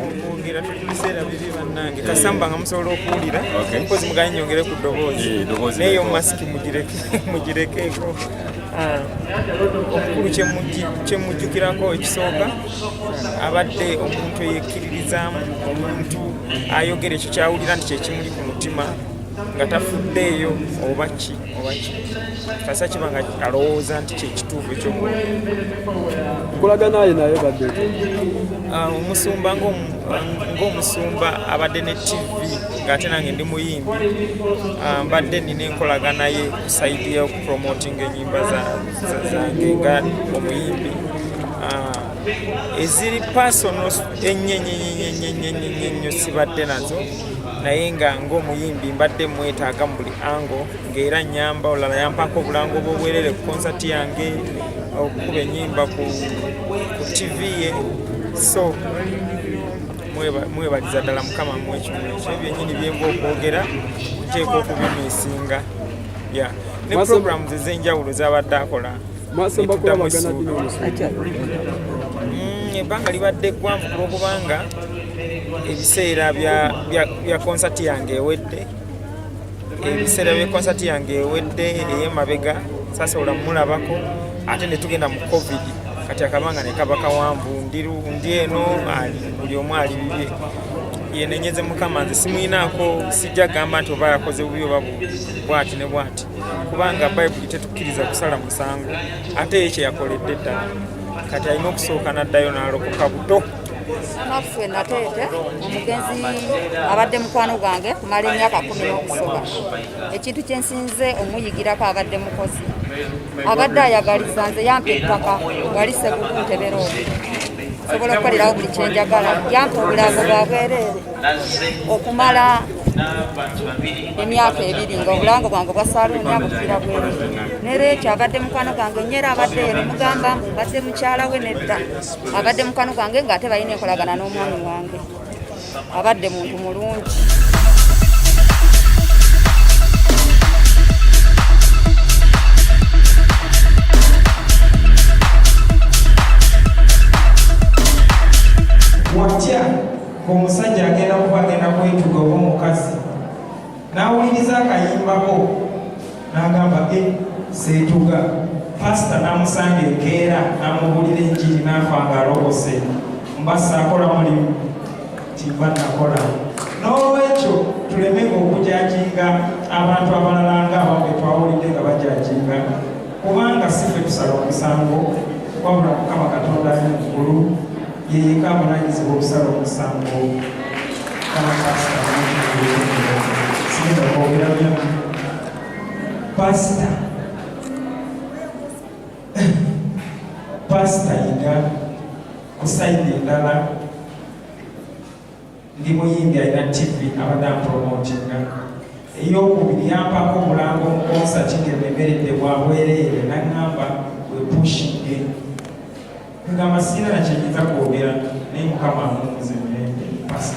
okwogera tuli biseera bibi bannange kasamba nga musobola okuwulira mpozi muganye nyongere ku ddoboozi naye omumasiki mugirekeeko ah, omukulu kyemujjukirako ekisooka abadde omuntu eyekkiririzaamu omuntu ayogera ekyo kyawulira nti kyekimuli ku mutima nga tafuddeeyo oba ki kasa kiba nga alowooza nti kyekituufu ekyokulaganaye naye badde ah, omusumba ngaomusumba abadde ne tv ngaate nange ndi muyimbi ah, mbadde nina enkolaganaye kusaidi yokupromotinga enyimba zange nga omuyimbi ah, eziri pasono enyenyenyenyenyenyenyenyo sibadde nazo naye nga ng'omuyimbi mbadde mwetaaga mu buli ango ng'era nyamba olala yampako obulango bwobwerere ku konsati yange okukuba enyimba ku tv ye so mwebaliza ddala mukama mwekimuno kyo byenyini byenga okwogera nteeka okubimiisinga ya ne programu ezenjawulo zabadde akola netuddamu essuubi mm, ebbanga libadde eggwanvu ku lwokubanga ebiseera bya konsati yange ewedde ebiseera bya konsati yange ewedde eyemabega sasobola mulabako ate netugenda mu covid kati akabanga nekaba kawanvu ndi eno buli omu ali bibye yenenyeze mukama nze simuyinaako sijja gamba nti oba yakoze bubi oba bwati ne bwati kubanga bayibuli tetukkiriza kusala musango ate ye kyeyakoledde ddala kati alina okusooka n'addayo n'alokoka buto naffe nateete omugenzi abadde mukwano gwange kumala emyaka kumi n'okusoba ekintu kyensinze omuyigirako abadde mukozi abadde ayagaliza nze yampa ettaka wali segukuntebera omu sobola okukolerawo buli kyenjagala yampa obulago bwa bwereere okumala emyaka ebiri nga obulango bwange bwa saluuni abufiira bwere nera ekyo abadde mukwano gwange nyera abadde ere mugamba mbu mbadde mukyala we nedda abadde mukwano gwange nga ate balina enkolagana n'omwami wange abadde muntu mulungi ng'omusajja agenda kuba agenda kwetuga oba omukazi n'awuliriza akayimbako n'agamba e eh, seetuga pasita n'amusanga enkeera n'amubuulira enjiri n'afa ng'alobose mba saakola mulimu kimba nakola n'olwekyo tuleme okujakinga abantu abalala nga ababwe twawulidde nga bajakinga kubanga si ffe tusala omusango wabula mukama katonda ali mu ggulu yeyeka abunanyizibwa okusala omusango pasita pasita yiga kusaidi endala ndi muyimbi alina tv abadde ampromotinga eyokubiri yampako omulango mu konsati ngememeredde bwabwereere naŋŋamba wepushinge nga masiina nakyenyinza kwogera naye mukama amuwumuze mirembe pasi